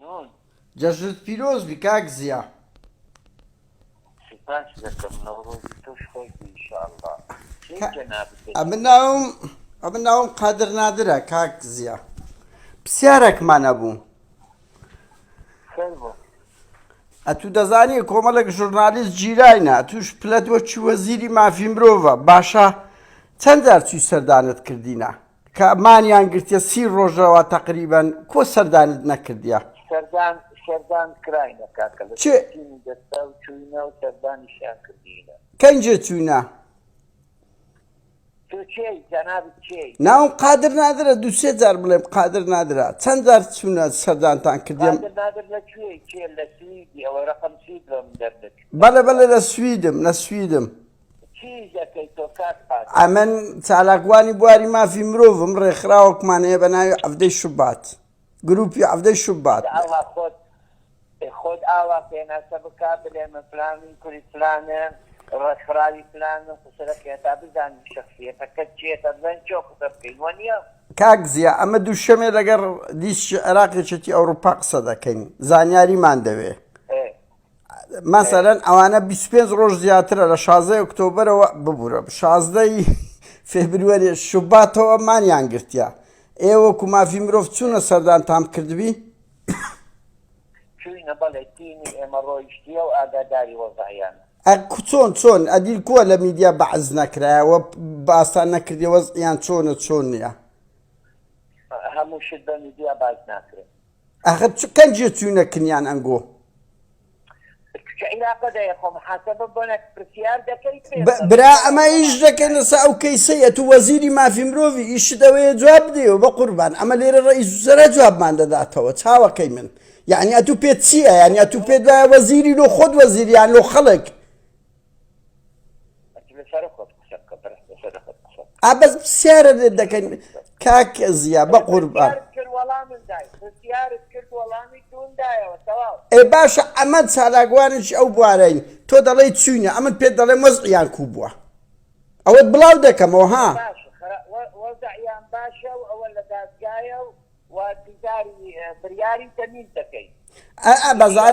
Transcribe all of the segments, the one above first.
نون. جەژنت پیرۆز بی کاک زیا. سوپاست دەکەم نەورۆزی تۆش خۆش بی انشااللە کێی جەنابت دەبی. ئەمن ناوم ئەمن ناوم قادر نادرە کاک زیا پسیارەکمان ئەبوو فەرموو. ئەتوو دەزانی کۆمەڵێک ژورنالیست جیراینە ئەتووش پلەت وەکی وەزیری مافی مرۆڤە باشە چەند جار چووی سەردانت کردینە کە مانیان گرتیە سی ڕۆژەوە تەقریبەن کۆ سەردانت نەکردیە. سەردان سەردان کراینە کاکە لە چێ؟ تیمی دەستا و چووینە و سەردانیشیان کردینە. کەنجێ چووینە؟ تۆ کێی جەنابت کێی؟ ناوم قادر نادرە دوو سێ جار بڵێم قادر نادرە چەند جار چوونە سەردانتان کردیم؟ قادر نادر لە کوێی کێ لە سویدی ئەوە ڕەقەم سوید لۆ من دەرنەچوو. بەڵێ بەڵێ لە سویدم لە سویدم. چیش دەکەی تۆ کاک قادر؟ ئەمن چالاکوانی بواری مافی مرۆڤم، ڕێکخراوەکمان هەیە بە ناوی عەڤدەی شوبات، گروپی عەڤدەی شوبات. جا ئەوها خۆت خۆت ئاوا پێناسە بکە بلێ من فلانم کوری فلانم ڕێکخراوی فلانم قسە دەکەی هەتا بزانین شەخسیەتەکەت چیە تا بزانین چۆن قسە بکەین وەنیە. کاک زیا ئەمە دوشەمێ لەگەر دیسکی عێراق یەکێتی ئەوروپا قسە دەکەین زانیاریمان دەوێ. مەسەرەن ئەوانە 25 ڕۆژ زیاترە لە شازدە ئۆکتۆبرەوە ببوورە شازدەی فێبروەری شوباتەوە مانیان گرتیا ئێوە کو مافی مرۆڤ چوونە سەردان تام کردبی چوینە بەڵێ تیمی ئێمە ڕۆیشتیە و ئاگاداری وەزایان چۆن چۆن ئەدیل کووە لە میدیا بەعز نەکرایەوە باسان نەکردی وەزیان چۆنە چۆن نیە هەموو شت بە میدیا باز ناکرێت ئاخر چ کەنجێ چوینە کنیان ئەنگۆ. برا ئەمە ئیش دەکەین لەسا ئەو کەیسەیە تو وەزیری مافی مرۆڤی ئیشت ئەوەیە جواب بدەیەوە بە قوربان ئەمە لێرە ڕئیس وزەرا جوابمان دەداتەوە چاوەکەی من یعنی ئەتو پێت چییە یعنی ئەتو پێت وایە وەزیری لۆ خۆت وەزیریان لۆ خەڵک ئابەز پرسیارە دەکەین کاک زیا بە قوربان ئێ باشە ئەمە چالاکوانش ئەو بوارەی تۆ دەڵێی چوینە ئەمن پێت دەڵێ مەزیان کو بووە ئەوەت بڵاو دەکەمەوە ها بەزار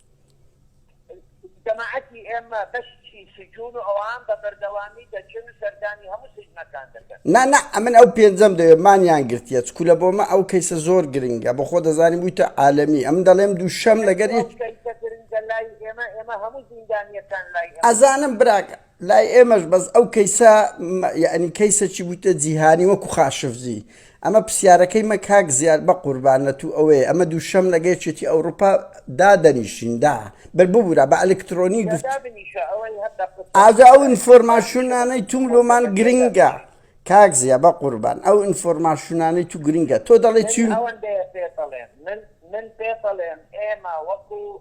جەماعەتی ئێمە بەشی سجون و ئەوان بە بەردەوامی دەچن و سەردانی هەموو سجنەکان دەکەن. نا نا ئەمن ئەو پێنجەم دەوێ مانیان گرتیە چکو لە بۆمە ئەو کەیسە زۆر گرنگە بە خۆ دەزانی بویتە عالەمی ئەمن دەڵێم دوو شەم لەگەر ئەزانم براکە لای ئێمەش بەس ئەو کەیسە یەعنی کەیسەکی بوویتە جیهانی وەکو خاشفجی ئەمە پرسیارەکەی مە کاک زیاد بەقوربان لەتوو ئەوەیە ئەمە دووشەم لەگە یەکێتی ئەوروپا دادەنیشین دا بەر ببورە بە ئەلکترۆنی گفت ئازا ئەو ئینفۆرماشونانەی توم لۆمان گرنگە کاک زیە بە قوربان ئەو ئینفۆرماشونانەی تو گرنگە تۆ دەڵێ چی من پێ بەڵێن ئێمە وەکو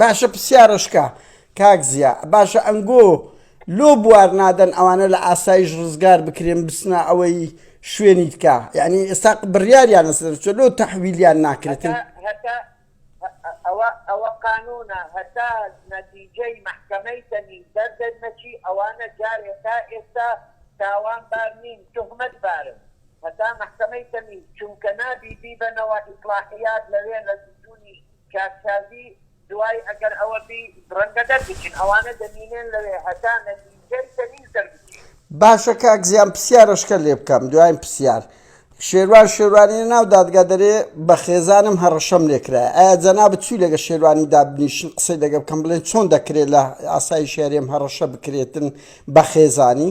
باشە پسیارە شکا کاک زیا باشە ئەنگۆ لۆ بوار نادەن ئەوانە لە ئاسایش ڕزگار بکرێن بسنا ئەوەی شوێنی تکا یعنی ئێستا بڕیاریان لەسەرچە لۆ تەحویلیان ناکرێتن ئەوە ئەوە قانونە هەتا نەتیجەی محکمەی تەنی دەردەر نەچی ئەوانە جارێ تا ئێستا تاوان بار نین تهمەت بارن هەتا محکمەی تەنی چونکە نابی بیبەنەوە ئیسلاحیات لەوێ لە سجونی کاک شازی دوای ئەگەر ئەوە بی رەنگە دەربچن ئەوانە دەمینێن لەوێ هەتا نەتیجەی تەمیز دەربچی. باشە کاک زیان پسیارەشکە لێ بکەم دواین پسیار شێروان شێروانی لە ناو دادگا دەرێ بە خێزانم هەڕەشەم لێ کرایە ئایا جەنابت چوی لەگە شێروانی دابنیشن قسەی لەگە بکەم بڵێن چۆن دەکرێ لە ئاسایشی هەرێم هەڕەشە بکرێتن بە خێزانی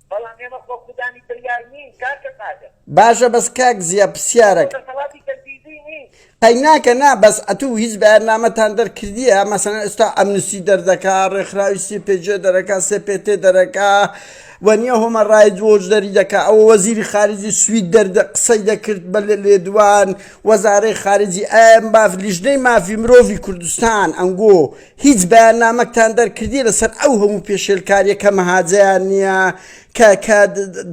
بەڵام ئێمە خۆ خودانی بریار نین کاکە قادر. باشە بەس کاک زیا پسیارەک. تۆ دەسەڵاتی تەنفیزی نیت. قەیناکە نا بەس ئەتوو هیچ بەیاننامەتان دەرکردیە مەسەلەن ئێستا ئەمنستی دەردەکا ڕێکخراوی سی پێ جێ دەرەکا سێ پێ تێ دەرەکا و نیە هۆمە ڕایت وۆچ دەری دەکا ئەوە وەزیری خارجی سوید دەردە قسەی دەکرد بە لێدوان وەزارەی خارجی ئەم باف لیژنەی مافی مرۆڤی کوردستان ئەنگۆ هیچ بەیاننامەکتان دەرکردیە لەسەر ئەو هەموو پێشێلکاریە کە مەهاجەیان نیە کە کە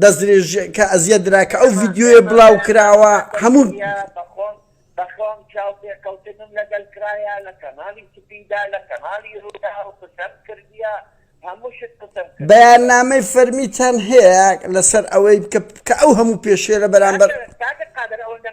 دەستدرێژ کە ئەزیەت درا کە ئەو ڤیدیۆیە بڵاو کراوە هەموو بەخۆم بەخۆم چاو پێکەوتنم لەگەل کرایە لە کەنالی سپیدا لە کەنالی رووداو قسەم کردیە هەموو شت قسەم کردیە. بەیاننامەی فەرمیتان هەیە لەسەر ئەوەی کە کە ئەو هەموو پێشێلە بەرامبەر. کاکە قادر ئەوەندە